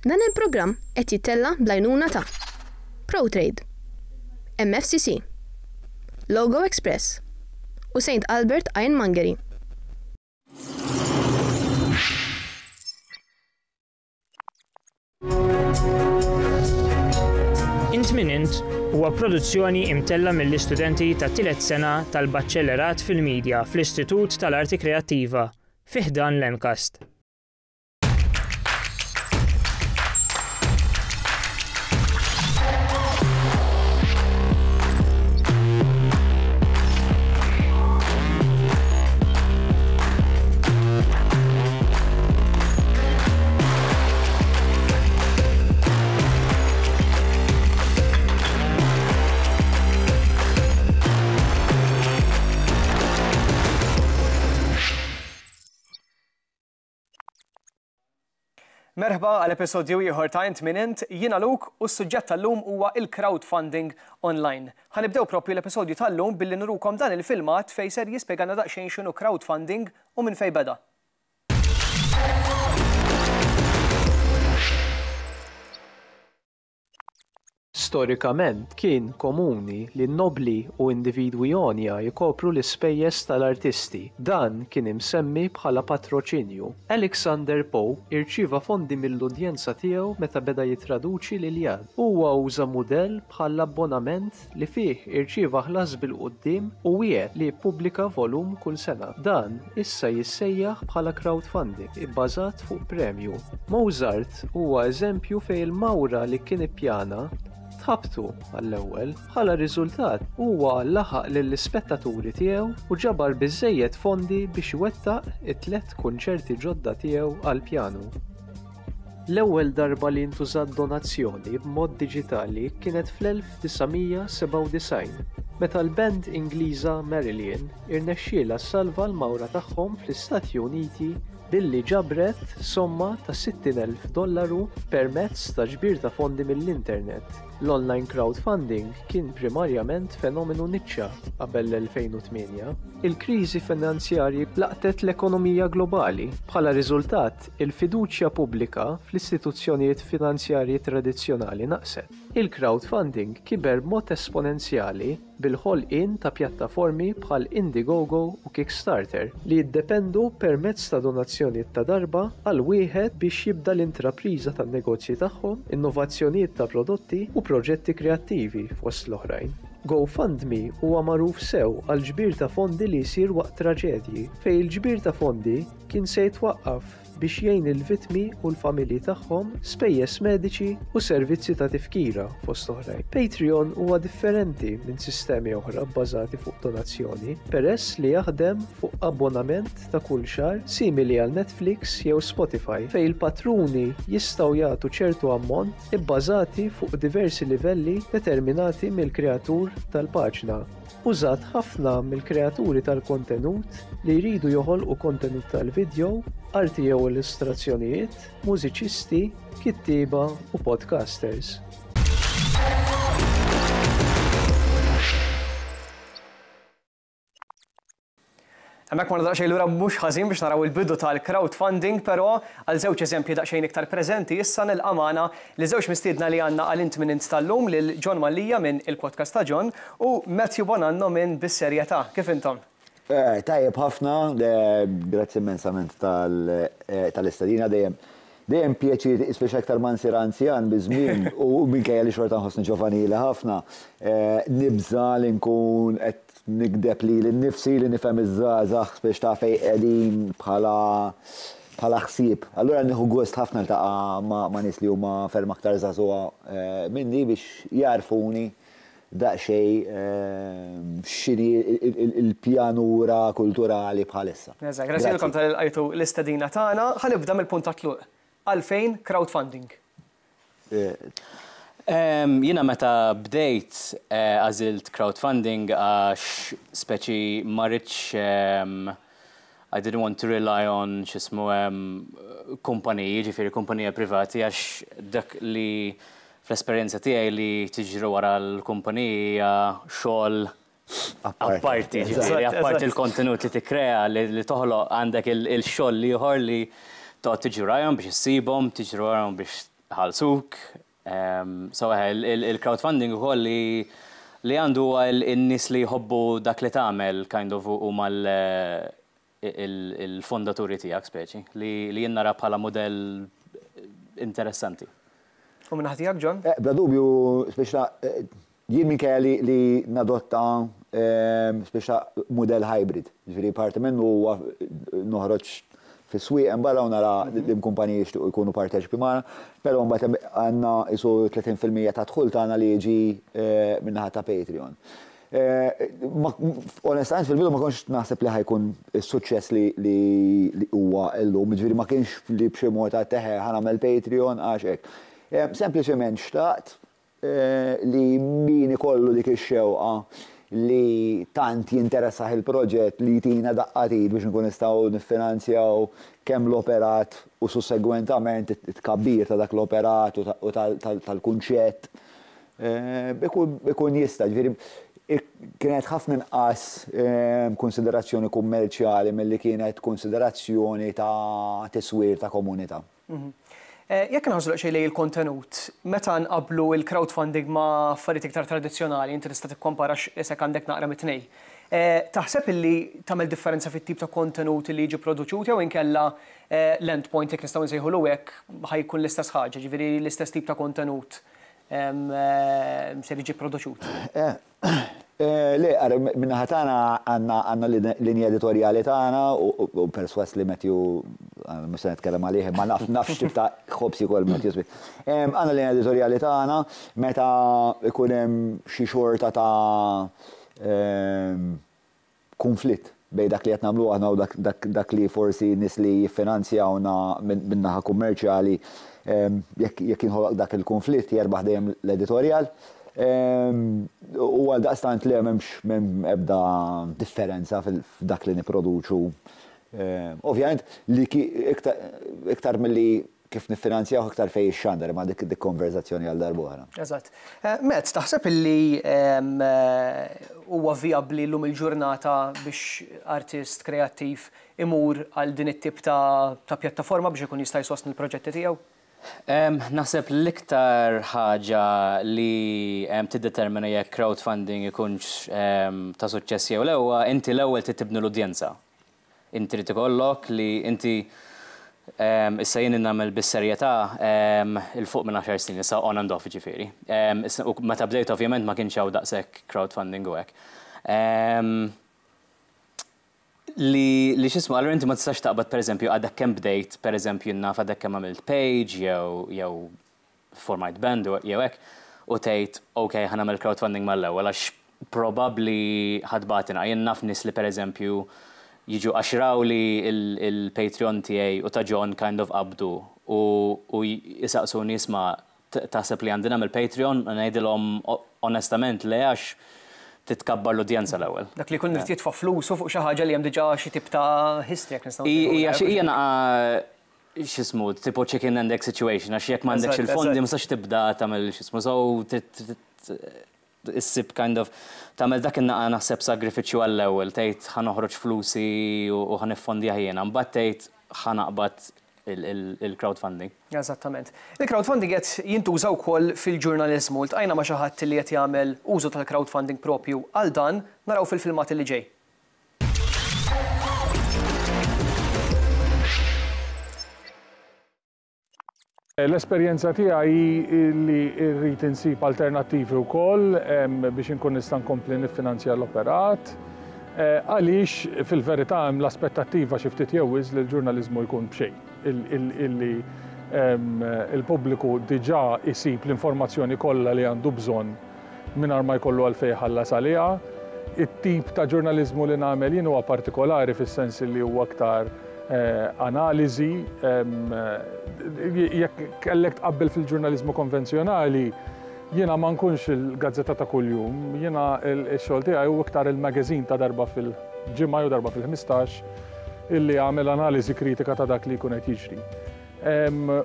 Dan il-programm qed jittella' bl-għajnuna ta', Protrade, MFCC, Logo Express u Saint Albert Ironmongery. Int Min Int huwa produzzjoni imtella' mill-istudenti tat-tielet sena tal-Baċellerat fil-Media fl-Istitut tal-Arti Kreattiva fi ħdan l-MCAST. Merħba għal episodju ieħor ta' Int Min Int, jiena Luk u s-suġġett tal-lum huwa il-crowdfunding online. Ħanibdew propju l-episodju tal-lum billi nurukom dan il-filmat fej ser jispjegana daqsxejn x'inhu crowdfunding U minn fejn beda? Storikament, kien komuni li n-nobbli u individwi għonja jkopru l-ispejjeż tal-artisti. Dan kien imsemmi bħala patroċinju. Alexander Pope irċieva fondi mill-udjenza tiegħu meta beda jittraduċi l-Iljad. Huwa uża mudell bħall-abbonament li fih irċieva ħlas bil-quddiem u wiegħed li jippubblika volum kull sena. Dan issa jissejjaħ bħala crowdfunding ibbażat fuq premju. Mozart huwa eżempju fejn il-mawra li kien ippjana tħabtu għall-ewwel. Bħala riżultat, huwa laħaq lill-ispettaturi tiegħu u ġabar biżżejjed fondi biex iwettaq it-tliet kunċerti ġodda tiegħu għall-pjanu. L-ewwel darba li ntużat donazzjoni b'mod diġitali kienet fl-1997, meta l-band Ingliża Marillion irnexxielha ssalva l-mawra tagħhom fl-Istati Uniti billi ġabret somma ta' 60,000 dollaru permezz ta' ġbir ta' fondi mill-internet. L-online crowdfunding kien primarjament fenomenu niċċa qabel l-2008. Il-kriżi finanzjarji laqtet l-ekonomija globali. Bħala riżultat, Il-fiduċja pubblika fl-istituzzjonijiet finanzjarji tradizzjonali naqset. Il-crowdfunding kiber b'mod esponenzjali bil-ħolqien ta' pjattaformi bħal Indiegogo u Kickstarter li jiddependu permezz ta' donazzjonijiet ta' darba għal wieħed biex jibda l-intrapriża tan-negozji tagħhom, innovazzjonijiet ta' prodotti u proġetti kreattivi, fost l-oħrajn. GoFundMe huwa magħruf sew għall-ġbir ta' fondi li jsir waqt traġedji, fejn il-ġbir ta' fondi kien se jitwaqqaf biex jgħin lill-vittmi u l-familji tagħhom spejjeż mediċi u servizzi ta' tifkira, fost oħrajn. Patreon huwa differenti minn sistemi oħra bbażati fuq donazzjoni, peress li jaħdem fuq abbonament ta' kull xahar simili għal Netflix jew Spotify, fejn il-patruni jistgħu jagħtu ċertu ammont ibbażati fuq diversi livelli determinati mill-kreatur tal-paġna. Użat ħafna mill-kreaturi tal-kontenut li jridu joħolqu kontenut tal-vidjow, arti jew illustrazzjonijiet, mużiċisti, kittieba u podcasters. Hemmhekk morna daqsxejn lura mhux ħażin biex naraw il-bidu tal-crowdfunding pero' għal żewġ eżempji daqsxejn iktar preżenti issa nilqa' magħna liż-żewġ mistiedna li għandna għal Int Min Int tal-lum lil John Mallia minn Il-Podcast ta' John u Matthew Bonanno minn Bis-Serjetà. Kif intom? Tajjeb ħafna, grazzi immensament tal-istedina dejjem dejjem pjaċir speċi aktar ma nsir anzjan biż-żmien u minkejja li xorta nħossni ġovanili ħafna nibża' li nkun qed Nigdeb lili nnifsi li nifhem iż-żgħażagħ biex taf fejn qegħdin bħala bħala ħsieb. Allura nieħu gost ħafna niltaqa' ma' nies li huma ferm aktar żagħżugħa minni biex jgħarrfuni daqsxejn x'inhi l-pjanura kulturali bħalissa. Grazzi lilkom tal-li lqajtu l-istedina tagħna. Ħa nibda mill-punt tat-tluq. Għalfejn crowdfunding? Jiena meta bdejt għażilt crowdfunding għax speċi ma ridtx I didn't want to rely on x'ismu kumpaniji, jiġifieri kumpanija privati għax dak li fl-esperjenza tiegħi li tiġri wara l-kumpaniji hija xogħol Apparti, ġifieri, apparti l-kontenut li tikkrea, li toħloq għandek il-xogħol l-ieħor li toqgħod tiġri warajhom biex issibhom, tiġri warajhom biex iħallsuk. So il-crowdfunding ukoll li li għandu huwa n-nies li jħobbu dak li tagħmel kind of huma l il-fondaturi tiegħek speċi li jien nara bħala mudell interessanti. U minn naħa tiegħek John? Bla dubju speċi jien minkejja li nadotta speċi mudell hybrid, jiġifieri parti minnu huwa noħroġ fis-swieq hemm barra u nara li l-kumpaniji jixtiequ jkunu parteċipi magħna, però mbagħad hemm għandna qisu 30% tad-dħul tagħna li jiġi minn naħa ta' Patreon. Onestament fil-bidu ma kontx naħseb li ħa jkun is-suċċess li huwa llum, jiġifieri ma kienx li b'xi mod għedt eħe ħa nagħmel Patreon għax hekk. Sempliċement xtaqt li min ikollu dik ix-xewqa li tant jinteressah il-proġett li jtina daqqa t'id biex inkunu nistgħu niffinanzjaw kemm l-operat u sussegwentament it-tkabbir ta' dak l-operat u tal-kunċett ikun jista', jiġifieri kienet ħafna inqas kunsiderazzjoni kummerċjali milli kienet kunsiderazzjoni ta' tiswir ta' komunità. Jekk inħarsu daqsxejn lejn il-kontenut, meta nqabblu l-crowdfunding ma' affarijiet iktar tradizzjonali, inti tista' tikkompara għax isek għandek naqra mit-tnejn. Taħseb illi tagħmel differenza fit-tip ta' kontenut li jiġi produċut jew inkella l-endpoint, jekk nistgħu nsejħulu hekk, ħa jkun l-istess ħaġa, jiġifieri l-istess tip ta' kontenut ser jiġi pproduċut. Le, ara, min-naħa tagħna għandna linja editorjali tagħna u perswas li Matthew mhux se nitkellem għalih, ma naf naf x'tip ta' ħobs jkoll Matthew Smith. Għandna linja editorjali tagħna meta jkun hemm xi xorta ta' kunflitt bejn dak li qed nagħmlu aħna u dak li forsi nies li jiffinanzjawna min-naħa kummerċjali, jekk jinħoloq dak il-kunflitt, jerbaħ dejjem l-editorjal. U għaldaqstant le, m'hemm ebda differenza f'dak li nipproduċu. Ovvjament, iktar milli kif niffinanzjawh iktar fejn jixxandar, imma dik dik konverżazzjoni għal darb'oħra. Eżatt. Matt, taħseb illi huwa vijabbli llum il-ġurnata biex artist kreattiv imur għal din it-tip ta' ta' pjattaforma biex ikun jista' jsostni l-proġetti tiegħu? Naħseb l-iktar ħaġa li tiddetermina jekk crowdfunding ikunx ta' suċċess jew le huwa inti l-ewwel trid tibni l-udjenza. Int trid ikollok li inti issa jien nagħmel bis-serjetà il fuq minn għaxar snin issa on and off jiġifieri. U meta bdejt ovvjament ma kienx hawn daqshekk crowdfunding u hekk. Li li x'ismu allura inti ma tistax taqbad pereżempju għadek kemm bdejt pereżempju naf għadek kemm għamilt page jew jew formajt band jew hekk u tgħid ok ħa nagħmel crowdfunding mal-ewwel għax probabbli ħa tbagħatilna. Jien naf nies li pereżempju jiġu għax raw li l-Patreon tiegħi u ta' John kind of qabdu u u jsaqsuni isma' taħseb li għandi nagħmel Patreon u ngħidilhom onestament le għax titkabbar l-udjenza l-ewwel. Dak li jkun irid jitfa' flusu fuq xi ħaġa li hemm diġà xi tip ta' history jekk nistgħu ngħidu hekk. Hija xi hija x'ismu, tipo chicken and egg situation, għax jekk m'għandekx il-fondi ma sax tibda tagħmel x'ismu, so issib kind of tagħmel dak in-naqa naħseb sagrifiċċju għall-ewwel, tgħid ħa noħroġ flusi u ħa niffondjah jiena, mbagħad tgħid ħa naqbad il-crowdfunding. Eżattament. Il-crowdfunding qed jintuża wkoll fil-ġurnaliżmu. Ltqajna ma' xi ħadd li qed jagħmel użu tal-crowdfunding proprju għal dan, naraw fil-filmat li ġej. L-esperjenza tiegħi hi li rrid insib alternattivi wkoll biex inkun nista' nkompli niffinanzja l-operat. Eh, għaliex fil-verità hemm l-aspettattiva xi ftit jew li l-ġurnaliżmu jkun b'xejn. Illi il-pubbliku diġà isib l-informazzjoni kollha li għandu bżonn mingħajr ma jkollu għalfejn iħallas għaliha. It-tip ta' ġurnaliżmu li nagħmel jien huwa partikolari fis-sens li huwa aktar analiżi. Jekk kellek tqabbel fil-ġurnaliżmu konvenzjonali, jiena ma nkunx il-gazzetta ta' kuljum. Jiena x-xogħol tiegħi hu iktar il-magazine ta' darba fil-ġimgħa jew darba fil-ħmistax illi jagħmel analiżi kritika ta' dak li jkun qed jiġri.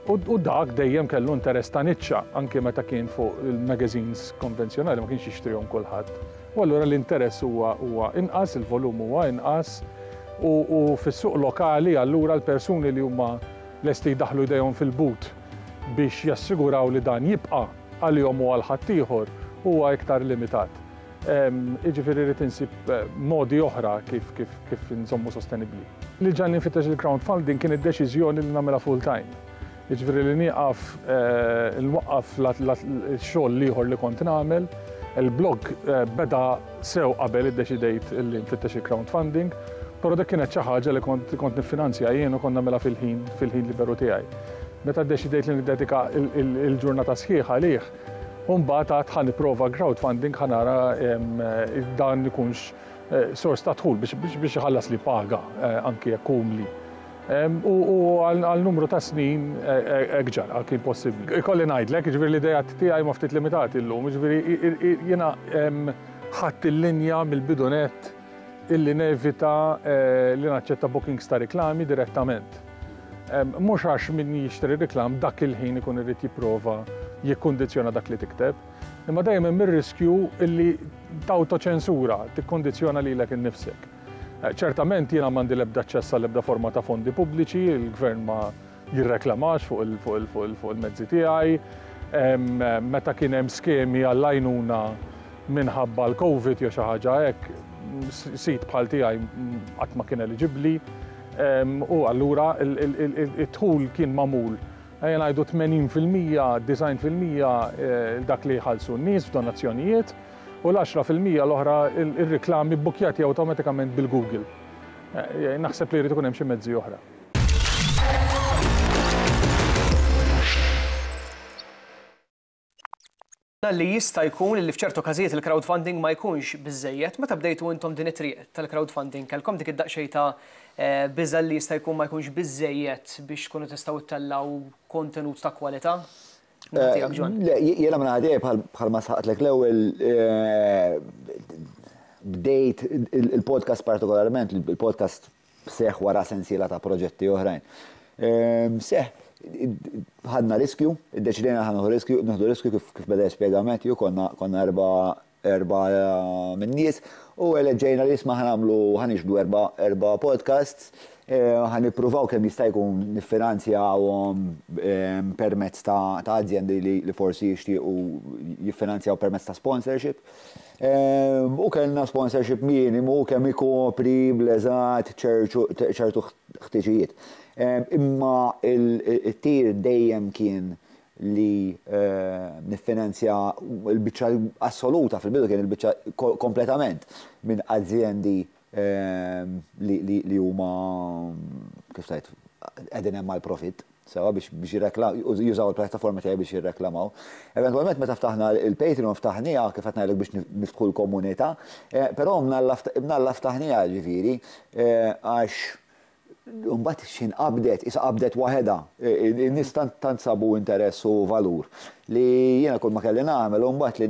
U dak dejjem kellu interess ta' niċċa, anke meta kien fuq il-magazines konvenzjonali ma kienx jixtrihom kulħadd. U allura l-interess huwa inqas, il-volum huwa inqas, u fis-suq lokali allura l-persuni li huma lesti jdaħħlu jdejhom fil-but biex jassiguraw li dan jibqa' għalihom u għal ħaddieħor huwa iktar limitat. Jiġifieri rrid insib modi oħra kif kif kif inżommu sostenibbli. Li ġagħalni nfittex il-crowdfunding kien id-deċiżjoni li nagħmilha full time. Jiġifieri li nieqaf inwaqqaf x-xogħol l-ieħor li kont nagħmel. Il-blog beda sew qabel iddeċidejt li nfittex il-crowdfunding, però dik kienet xi ħaġa li kont kont niffinanzja jien u kont nagħmilha fil-ħin fil-ħin liberu tiegħi. Meta ddeċidejt li niddedika l-ġurnata sħiħa għalih, U mbagħad għad ħa nipprova crowdfunding ħa nara dan ikunx sors ta' dħul biex iħallas li paga anki jekk umli. U għal numru ta' snin hekk ġara, kien possibbli. Ikolli ngħidlek, jiġifieri l-ideat tiegħi huma ftit limitati llum, jiġifieri jiena ħadt il-linja mill-bidu nett Illi nevita li naċċetta bookings ta' riklami direttament. Mhux għax min jixtri reklam dak il-ħin ikun irid jipprova jikkundizzjona dak li tikteb, imma dejjem hemm ir-riskju illi tawtoċensura, tikkundizzjona lilek innifsek. Ċertament jiena m'għandi l-ebda aċċess għall-ebda forma ta' fondi pubbliċi, il-Gvern ma jirreklamax fuq il-mezzi tiegħi, meta kien hemm skemi għall-għajnuna minħabba l-Covid jew xi ħaġa hekk, sid bħal tiegħi qatt ma kien eliġibbli u allura d-dħul kien magħmul, ejja ngħidu 80 fil-mija, 90 fil-mija dak li jħallsu n-nies f'donazzjonijiet u l-għaxra fil-mija l-oħra r-riklami bbukkjati awtomatikament bil-Google. Naħseb li jrid ikun hemm xi mezzi oħra. li jista' jkun li f'ċertu każijiet il-crowdfunding ma jkunx biżżejjed. Meta bdejtu intom din it-triq tal-crowdfunding kellkom dik id-daqsxejn ta' eh, biża' li jista' jkun ma jkunx biżżejjed biex tkunu tistgħu ttellgħu kontenut ta' kwalità? Eh, le, jena minna għadie bħal ma saqtlek l-ewel eh, bdejt il-podcast partikolarment, il-podcast seħħ wara sensiela ta' proġetti oħrajn. Seħħ, ħadna riskju, iddeċidejna li ħanuħu riskju, nieħdu riskju kif beda jispjega Matthew, konna erba' erba' min-nies u eleġġejna li isma' ħanagħmlu ħanixbdu erba' erba' podcasts, ħanippruvaw kemm jista' jkun niffinanzjawhom permezz ta' azjendi li forsi jixtiequ jiffinanzjaw permezz ta' sponsorship. U kellna sponsorship minimu kemm ikopri bl-eżatt ċertu ħtiġijiet. Imma t-tir dejjem kien li niffinanzja l-biċċa assoluta, fil-bidu kien il-biċċa kompletament minn azjendi li huma, kif tgħid, qegħdin hemm għall-profitt, sewwa, biex jużaw il-pjattaforma tiegħi biex jirreklamaw. Eventwalment meta ftaħna l-Patreon ftaħnieha, kif qed ngħidlek, biex niftħu l-komunità, però mnalla ftaħnieha, jiġifieri, għax Imbagħad xi nqabdet, qisha qabdet waħedha. In-nies tant sabu interess u valur li jiena kull ma kelli nagħmel hu mbagħad li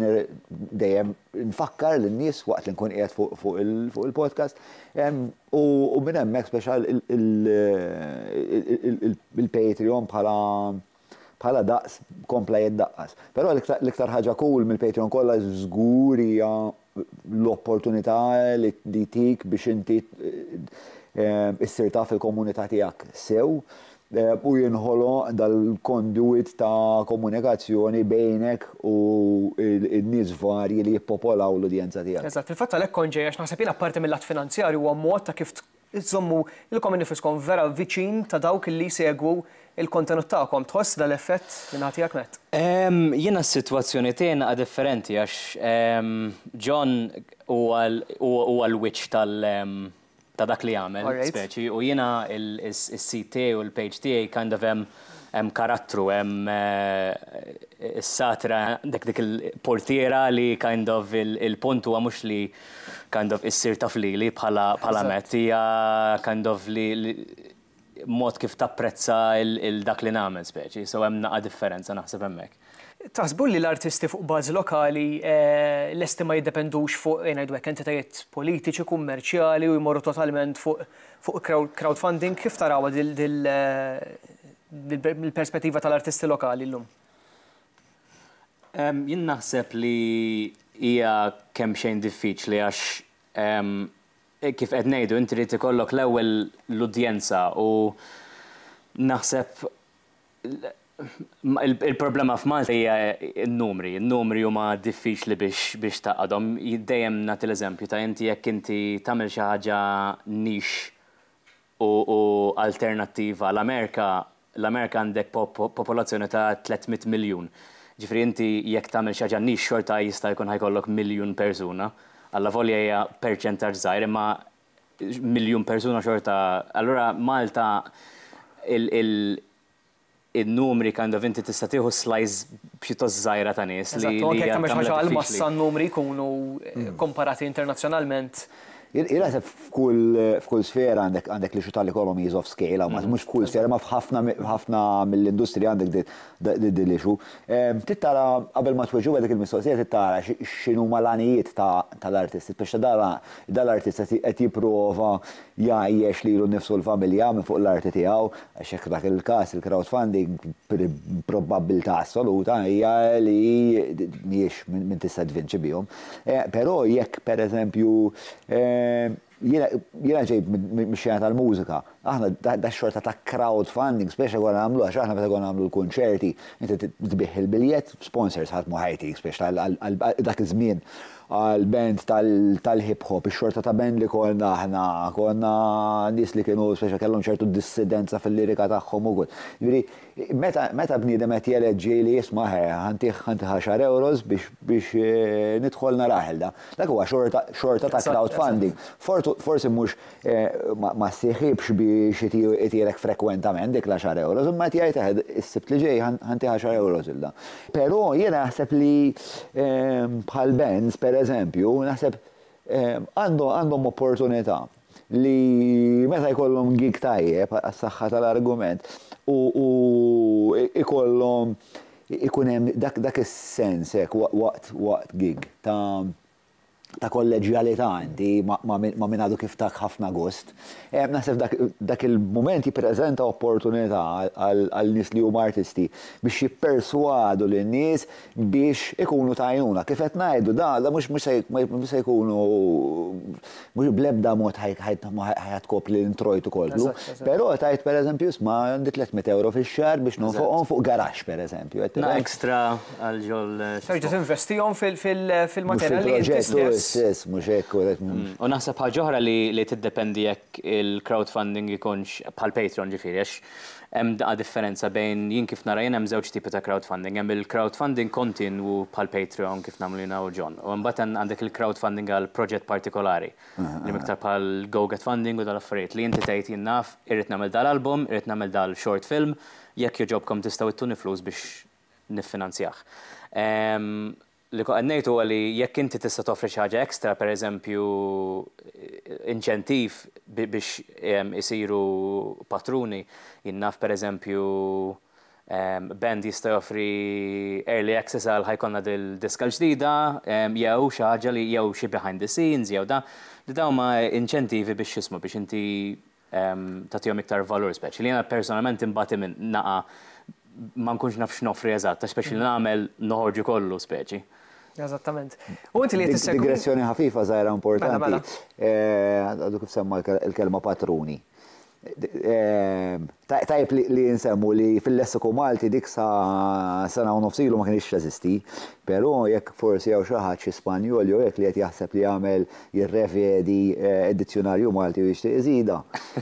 dejjem nfakkar lin-nies waqt li nkun qiegħed fuq il-podcast u minn hemmhekk speċjal il-Patreon bħala Bħala daqs kompla jiddaqqas. Però l-iktar ħaġa cool mill-Patreon kollha żgur hija l-opportunità li jtik biex inti issir taf il-komunità tiegħek sew u jinħoloq dal-conduit ta' komunikazzjoni bejnek u n-nies varji li jippopolaw l-udjenza tiegħek. Eżatt. Fil-fatt għalhekk kont ġej għax naħseb jien apparti mil-lat finanzjarju huwa mod ta' kif Iżżommu lilkom innifiskom vera viċin ta' dawk li jsegwu l-kontenut tagħkom. Tħoss dan l-effett min-naħa tiegħek, Matt? Jiena s-sitwazzjoni tiegħi naqa' differenti għax John huwa l-wiċċ ta' dak li jagħmel, speċi, u jiena s-sit tiegħi u l-page tiegħi kind of hemm hemm karattru, hemm is-satra għandek dik il-portiera li kind of il-punt huwa mhux li kind of issir taf lili bħala bħala mezz, hija kind of li mod kif tapprezza il dak li nagħmel speċi, so hemm naqa' differenza naħseb hemmhekk. Taħsbu li l-artisti fuq bażi lokali lesti ma jiddependux fuq, ngħidu hekk, entitajiet politiċi, kummerċjali u jmorru totalment fuq fuq crowdfunding? Kif tarawha dil dil mill-perspettiva tal-artisti lokali llum? Jien naħseb li hija kemmxejn diffiċli għax kif qed ngħidu inti trid ikollok l-ewwel l-udjenza u naħseb Il-problema f'Malta hija n-numri. N-numri huma diffiċli biex taqadhom. Dejjem nagħti l-eżempju ta' inti jekk inti tagħmel xi ħaġa nix u alternattiva l-Amerika, l-Amerika għandek popolazzjoni ta' 300 miljun. Ġifieri inti jekk tagħmel xi ħaġa nix xorta jista' jkun ħa jkollok miljun persuna. Allavolja hija perċentaġġ żgħir imma miljun persuna xorta. Allura Malta il-numri kind of inti tista' tieħu slice pjuttost żgħira ta' nies li. Eżatt, u anke jekk tagħmel xi ħaġa għall-massa n-numri jkunu komparati internazzjonalment. Jien naħseb f'kull sfera għandek l-issue tal-economies of scale, hawn mhux f'kull sfera imma f'ħafna mill-industriji għandek din l-issue. Trid tara qabel ma tweġibha dik il-mistoqsija trid tara x'inhuma l-għanijiet tal-artisti, biex tara Dan l-artist qed jipprova jgħajjex lilu nnifsu u l-familja minn fuq l-arti tiegħu, għax jekk dak il-każ il-crowdfunding b'probabbiltà assoluta hija li mhijiex minn tista' tvinċi bihom. Però jekk pereżempju jiena ġej mix-xena tal-mużika, Aħna dax-xorta ta' crowdfunding spiċċ konna nagħmlu għax aħna meta konna nagħmlu l-kunċerti inti tbigħ il-biljett, sponsors ħadd ma ħa jtik spiċċ għal dak iż-żmien għal band tal-hip hop, ix-xorta ta' band li konna aħna konna nies li kienu spiċċ kellhom ċertu dissidenza fil-lirika tagħhom u kull. Jiġifieri meta bniedem qed jeleġġi li isma' ħe ħa ntih għaxar ewros biex nidħol narah il-da. Dak huwa xorta ta' crowdfunding. Forsi mhux ma ssieħibx biex itirek frekwentament dik l-għaxar euros, imma qed jgħid eħe is-Sibt li ġej ħa ntih għaxar euros lil dan. Però jiena naħseb li bħal Benz, pereżempju, naħseb għandhom opportunità li meta jkollhom gig tajjeb, għas-saħħa tal-argument, u jkollhom ikun hemm dak is-sens hekk waqt gig ta' ta' kolleġġjalità inti ma' min għadu kif tak ħafna gost. Naħseb dak il-mument jippreżenta opportunità għal nies li huma artisti biex jipperswadu lin-nies biex ikunu ta' għajnuna. Kif qed ngħidu, dawn mhux se jkunu Mhux bl-ebda mod ħa tkopri l-introjtu kollu. Però tajt pereżempju isma' għandi 300 euro fix-xahar biex nonfoqhom fuq garaxx pereżempju. Ekstra għal ġol. Terġa' tinvestihom fil-materjal li inti stess. Mhux hekk. U naħseb ħaġa oħra li tiddependi jekk il-crowdfunding ikunx bħall-Patreon ġifieri għax Hemm daqqa differenza bejn jien kif nara jien hemm żewġ tipi ta' crowdfunding. Hemm il-crowdfunding kontinwu bħal Patreon kif nagħmlu jiena u John. U imbagħad hemm għandek il-crowdfunding għal proġett partikolari. Li hemm iktar bħal GoGetFunding u dal-affarijiet. Li inti tgħid jien naf irrid nagħmel dal-album, irrid nagħmel dal-short film, jekk jogħġobkom tistgħu ittuni flus biex niffinanzjah. Li kont qed ngħid huwa li jekk inti tista' toffri xi ħaġa extra, pereżempju inċentiv biex isiru patruni, jien naf pereżempju band jista' joffri early access għal ħa jkollna dil-diska l-ġdida jew xi ħaġa li jew xi behind the scenes jew dan, li dawn huma inċentivi biex x'ismu biex inti tagħtihom iktar valur speċi li jiena personalment inbati minn naqa' ma nkunx naf x'noffri eżatt, għax speċi li nagħmel noħorġu kollu speċi. Eżattament. U inti li qed issegwi. Digressjoni ħafifa żgħira importanti. Mela, mela. Għadu kif semma l-kelma patruni. Tajb li nsemmu li fil-lessiku Malti dik sa sena u nofsilu ma kienx teżisti, però jekk forsi hawn xi ħadd xi Spanjol jew hekk li qed jaħseb li jagħmel jirrevedi d-dizzjunarju Malti u jixtieq iżidha.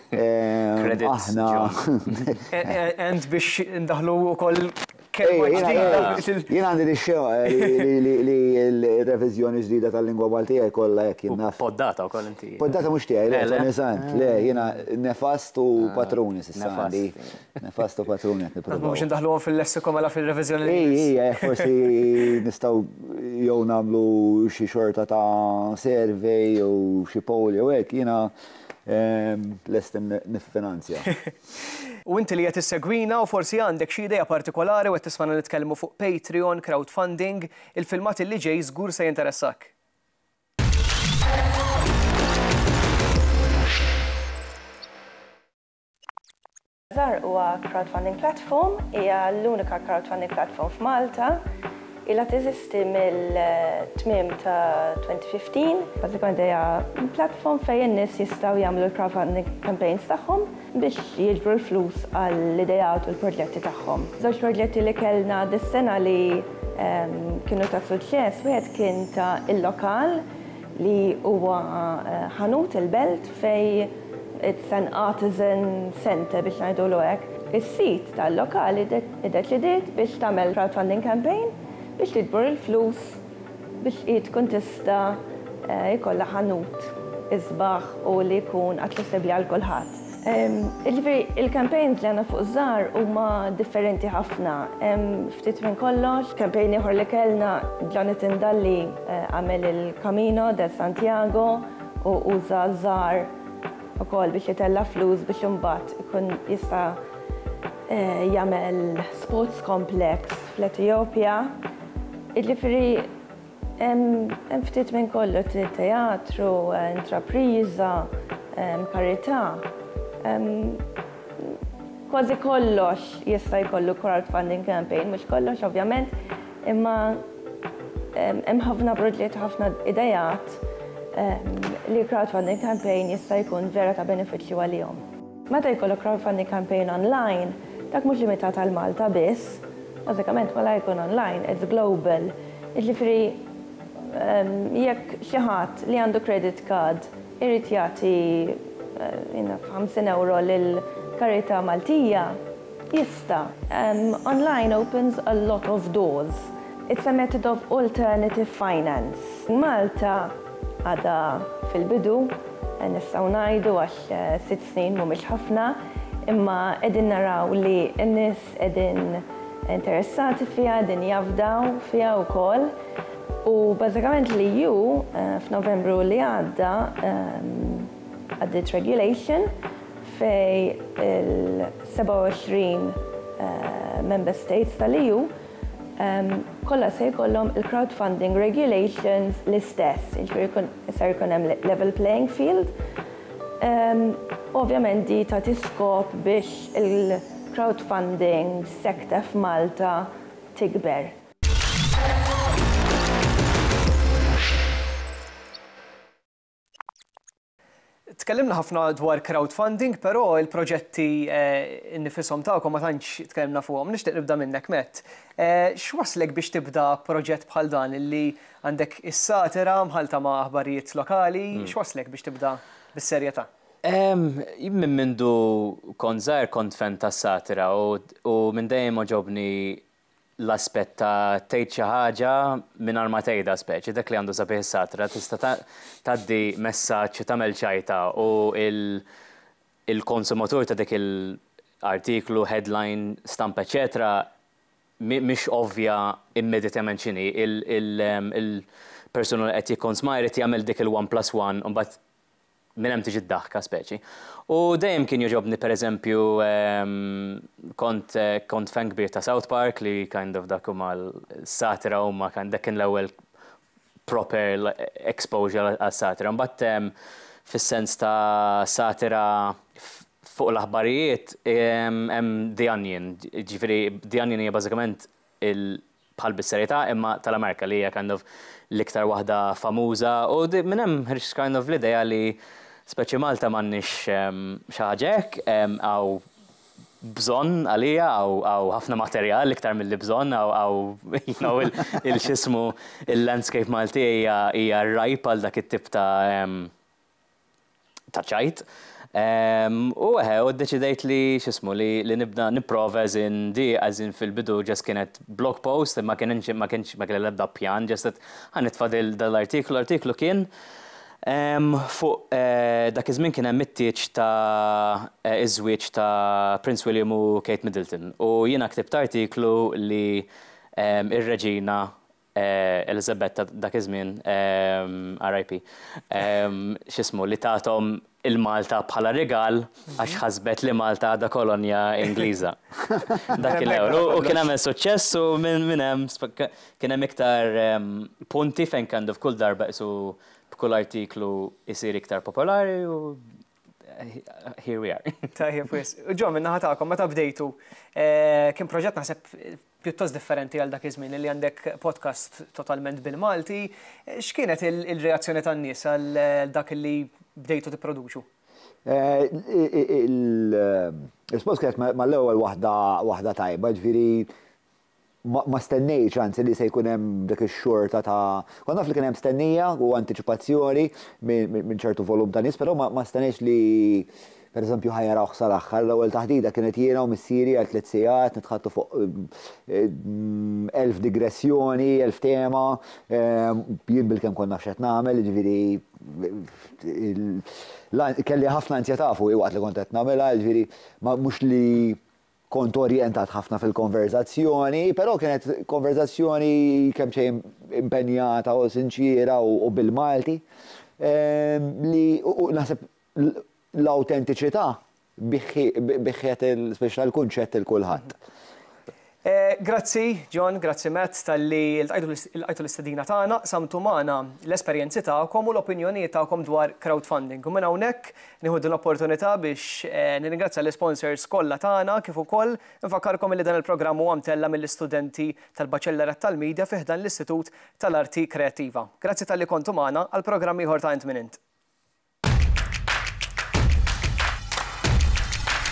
Credits, John. And biex indaħħlu wkoll kelma ġdida. Jien għandi dix-xewqa li r-reviżjoni ġdida tal-lingwa Maltija jkollha hekk, jien naf. Poddata wkoll inti. Poddata mhux tiegħi, le, Tony Sant. Le, jiena nefast u patruni s'issa għandi. Nefasto patrun qed nipprova. Mhux indaħluhom fil-lessiku mela fil-reviżjoni. Ija, eh, forsi nistgħu jew nagħmlu xi xorta ta' survey jew xi poll jew hekk jiena ehm, lest niffinanzja. U inti li qed issegwina u forsi għandek xi idea partikolari u qed tismana nitkellmu fuq Patreon, crowdfunding, il-filmat li ġej żgur se jinteressak. Żgħar huwa crowdfunding platform, hija l-unika crowdfunding platform f'Malta. Ilha teżisti mill-tmiem ta' 2015. Bażikament hija platform fejn in-nies jistgħu jagħmlu l-crowdfunding campaigns tagħhom biex jiġbru l-flus għall-ideat u l-proġetti tagħhom. Żewġ proġetti li kellna dis-sena li kienu ta' suċċess, wieħed kien ta' il-lokal li huwa ħanut il-belt fej it's an artisan centre biex ngħidulu hekk, is-sid tal-lokal iddeċidiet biex tagħmel crowdfunding campaign biex tiġbor il-flus biex hi tkun tista' jkollha ħanut isbaħ u li jkun aċċessibbli għal kulħadd. Jiġifieri, il-campaigns li għandna fuq iż-żgħar huma differenti ħafna. Hemm ftit minn kollox, campaign ieħor li kellna, Jonathan Dalli għamel il-Camino de Santiago u uża ż-żgħar ukoll biex jitella' flus biex imbagħad ikun jista' jagħmel sports complex fl-Etijopja. Jiġifieri. Hemm ftit minn kollu, teatru, intrapriża, karità. Kważi kollox jista' jkollu crowdfunding campaign, mhux kollox ovvjament, imma hemm ħafna proġetti, ħafna ideat li crowdfunding campaign jista' jkun vera ta' benefiċċju għalihom. Meta jkollok crowdfunding campaign online, dak mhux limitat għal Malta biss, bażikament malajr ikun online, it's global. Jiġifieri jekk xi ħadd li għandu credit card irid jagħti naf ħamsin ewro lil karità Maltija, jista'. Online opens a lot of doors. It's a method of alternative finance. Malta. Għadha fil-bidu, nistgħu ngħidu, għax sitt snin mhumiex ħafna, imma qegħdin naraw li n-nies qegħdin interessati fiha, qegħdin jafdaw fiha wkoll. U bażikament l-EU f'Novembru li għadda għaddiet regulation fejn il-27 Member States tal-EU kollha se jkollhom il-crowdfunding regulations l-istess, jiġifieri ser jkun hemm level playing field. Ovvjament di ta' tiskop biex il-crowdfunding sector f'Malta tikber. Tkellimna ħafna dwar crowdfunding, però il-proġetti nnifishom tagħkom ma tantx tkellimna fuqhom. Nixtieq nibda minnek, Matt. X'wasslek biex tibda proġett bħal dan li għandek is-satira mħallta ma' aħbarijiet lokali, x'wasslek biex tibda bis-serjetà? Jien minn mindu kont żgħir kont fan tas-satira u minn dejjem għoġobni l-aspett ta' tgħid xi ħaġa mingħajr ma tgħidha speċi dak li għandu sabiħ is-satra tista' tgħaddi messaġġ u tagħmel ċajta u l-konsumatur ta' dik il- artiklu, headline, stampa eċċetera mhix ovvja immedjatament x'inhi. Il-persuna li qed jikkonsma jrid jagħmel dik il-one plus one u mbagħad Minn hemm tiġi d-daħka speċi. U dejjem kien jogħġobni pereżempju kont kont fan kbir ta' South Park li kind of dak huma satira huma kind dak kien l-ewwel proper exposure għal satira. Mbagħad fis-sens ta' satira fuq l-aħbarijiet hemm The Onion. Ġifieri The Onion hija bażikament il bħal bis-serjetà imma tal-Amerika li hija kind of l-iktar waħda famuża u minn hemm ħriġt kind of l-idea li speċi Malta m'għandniex xi ħaġa hekk, hawn bżonn għalija, hawn ħafna materjal iktar milli bżonn, hawn il-x'ismu il-landscape Malti hija rajp għal dak it-tip ta' ta' ċajt. U eħe, u ddeċidejt li x'ismu li li nibda nipprova as in di as in fil-bidu ġest kienet blog post ma kienx ma kienx ma kelli l-ebda pjan ġest qed ħa nitfa' dal-artiklu. L-artiklu kien fuq dak iż-żmien kien hemm it-tieġ ta' iż-żwieġ ta' Prince William u Kate Middleton u jiena ktibt artiklu li r-Reġina Eliżabett ta' dak iż-żmien, RIP, x'ismu, li tathom il-Malta bħala rigal għax ħasbet li Malta għadha kolonja Ingliża. Dak kien l-ewwel. U kien għamel suċċess u minn hemm kien hemm iktar punti fejn kind of kull darba qisu b'kull artiklu jsir iktar popolari u here we are. Tajjeb, wis. Ġo, minna ħatakom, meta bdejtu, eh, kien proġett naħseb pjuttost differenti għal dak iż-żmien li għandek podcast totalment bil-Malti. Eh, x'kienet il-reazzjoni tan-nies għal eh, dak li bdejtu tipproduċu? Il-spos kienet mal-ewwel waħda tajba, ġviri Ma stennejtx, anzi, li se jkun hemm dik ix-xorta ta', kont naf li kien hemm stennija u antiċipazzjoni minn ċertu volum ta' nies, però ma stennejtx li pereżempju ħa jarawh sal-aħħar. L-ewwel taħdita kienet jiena u missieri għal tliet sigħat nitħaddtu fuq elf digressjoni, elf tema, jien bilkemm kont naf x'qed nagħmel, jiġifieri kelli ħafna anzjetà fuqi waqt li kont qed nagħmilha, jiġifieri mhux li Kont orjentat ħafna fil-konverżazzjoni, però kienet konverżazzjoni kemm xejn impenjata u sinċiera u bil-Malti li naħseb l-awtentiċità biħħiet il-spiċċ tal-kunċett 'il kulħadd. Grazzi John, grazzi Matt talli lqajtu l-istedina tagħna, qsamtu magħna l-esperjenzi tagħkom u l-opinjonijiet tagħkom dwar crowdfunding u minn hawnhekk Nieħu din l-opportunità biex nirringrazzja l-isponsors kollha tagħna kif ukoll infakkarkom li dan il-programm huwa mtella' mill-istudenti tal-Baċellerat tal-Media fi ħdan l-Istitut tal-Arti Kreattiva. Grazzi talli kontu magħna għal programm ieħor ta' Int Min Int.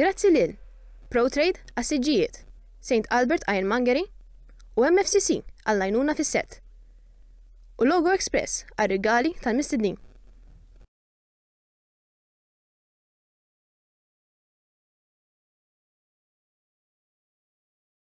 Grazzi lil ProTrade għas-siġġijiet, St Albert Ironmongery u MFCC għall-għajnuna fis-sett, u Logo Express għar-rigali tal-mistednin.